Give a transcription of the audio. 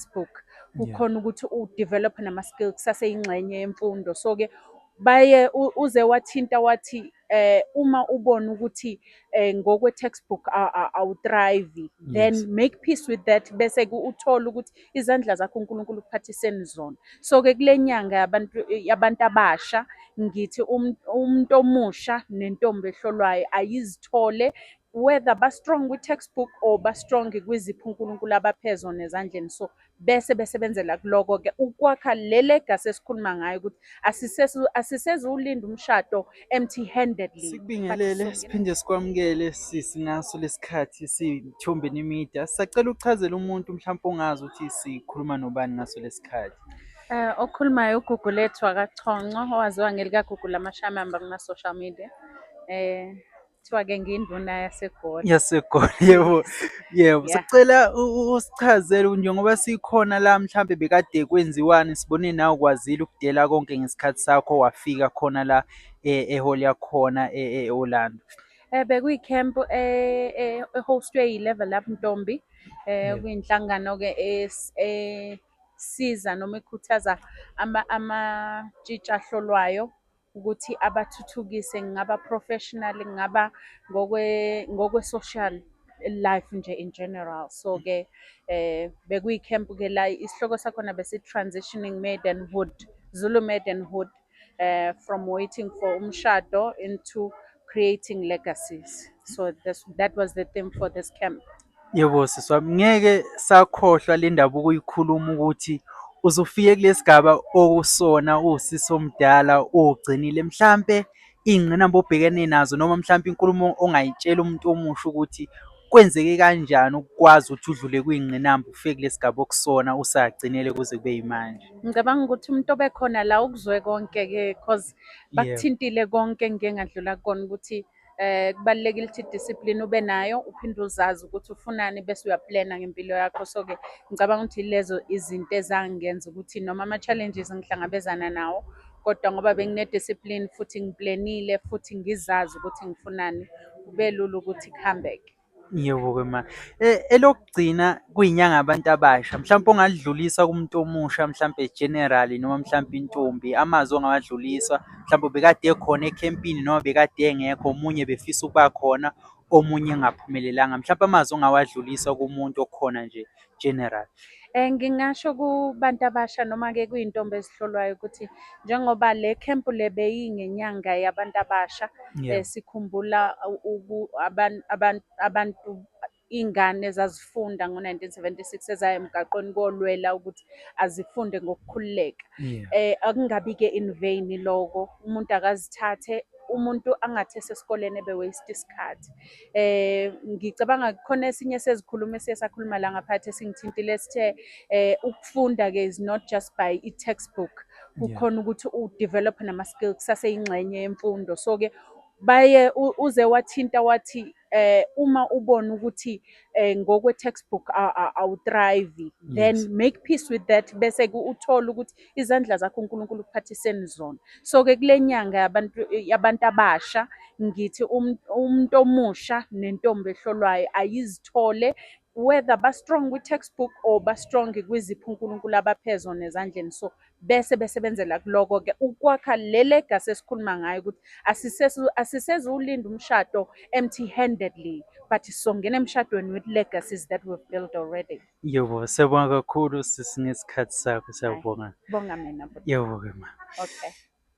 textbook kukhona ukuthi udevelop nama-skill kusaseyingxenye yemfundo so-ke baye uze wathinta wathi eh uma ubona ukuthi eh ngokwe textbook awuthrive then make peace with that bese ke uthola ukuthi izandla zakho uNkulunkulu ukuphathiseni zona so ke kulenyanga yabantu yabantu abasha ngithi um, umuntu omusha nentombi ehlolwayo ayizithole whether ba strong kwi textbook or ba strong kwizipho uNkulunkulu abaphe zona ezandleni so bese besebenzela kuloko ke ukwakha le legacy esikhuluma ngayo ukuthi asisezu asisezulinda umshado empty handedly sikubingelele siphinde sikwamukele sisi ngaso lesikhathi sithombeni media sacela uchazela umuntu mhlawumbe ongazi ukuthi sikhuluma nobani ngaso lesikhathi Eh okhulumayo uGugu lethu akaChonco owaziwa ngelikaGugu lamashamamba kuma social media. Eh kuthiwa-ke ngiyinduna yasegoli yasegoli yebo yebo sicela usichazele njengoba sikhona la mhlampe bekade kwenziwani sibone nawe ukwazile ukudela konke ngesikhathi sakho wafika khona la e, eholi yakhona e, e, e-orlando um bekuyi-camp ehostwe yi-level up ntombi um kuyinhlangano-ke esiza noma ikhuthaza amatshitshi ahlolwayo ukuthi abathuthukise ngaba professional ngaba ngokwe ngokwe social life nje in general so ke eh bekuyi camp ke la isihloko sakhona besi transitioning maiden hood Zulu maiden hood eh from waiting for umshado into creating legacies so this, that was the theme for this camp Yebo sisi wami, ngeke sakhohlwa le ndaba ukuyikhuluma ukuthi uze ufike kule sigaba okusona uwusisi omdala ugcinile. Mhlampe iy'ngqinamba obhekene nazo noma mhlampe inkulumo ongayitshela umuntu omusha ukuthi kwenzeke kanjani ukukwazi ukuthi udlule kwiy'ngqinamba ufike kule sigaba okusona usagcinele kuze kube yimanje. Ngicabanga ukuthi umuntu obekhona la ukuzwe konke-ke cause bakuthintile konke engike ngadlula kukona ukuthi Eh kubalekile ukuthi discipline ube nayo uphinde uzazi ukuthi ufunani bese uyaplana ngempilo yakho so ke ngicabanga ukuthi lezo izinto ezangenza ukuthi noma ama challenges ngihlangabezana nawo kodwa ngoba bengine discipline futhi ngiplanile futhi ngizazi ukuthi ngifunani kubelula ukuthi kuhambeke. Yebo-ke ma. Elokugcina kuyinyanga yabantu abasha, mhlawumpe ongalidlulisa kumuntu omusha mhlampe generally noma mhlampe intombi, amazwi ongawadlulisa. Mhlawumbe obekade ekhona ekhempini noma obekade engekho, omunye ebefisa ukuba khona, omunye engaphumelelanga. Mhlampe amazwi ongawadlulisa kumuntu okhona nje general. Eh ngingasho kubantu abasha noma ke kuyintombi ezihlolwayo ukuthi njengoba le camp le beyingenyanga yabantu abasha yeah. eh, sikhumbula abantu abantu abantu iy'ngane ezazifunda ngo-1976 ezaya emgaqweni kolwela ukuthi azifunde ngokukhululeka yeah. eh akungabi-ke in vain loko umuntu akazithathe umuntu angathi esesikoleni ebe waste isikhathi eh ngicabanga khona esinye sezikhuluma esiye sakhuluma la ngaphathi esingithintile sithe eh ukufunda ke is not just by i textbook kukhona ukuthi u develop nama skills kusase ingxenye yemfundo so ke baye uze wathinta wathi eh uma ubona ukuthi eh ngokwe textbook awu thrive then make peace with that bese uthola ukuthi izandla zakho uNkulunkulu ukuphathiseni zona so ke kule nyanga yabantu yabantu abasha ngithi um, umuntu omusha nentombi ehlolwayo ayizithole whether ba strong kwi textbook or ba strong kwiziphi uNkulunkulu abaphezo nezandleni so bese besebenzela kuloko ke ukwakha le legacy esikhuluma ngayo ukuthi asisezu asisezu ulinda umshado empty handedly but songena emshadweni with legacies that we've built already Yebo, siyabonga kakhulu sisi ngesikhathi sakho, siyabonga. Bonga mina bhuti. Yebo-ke ma. Okay.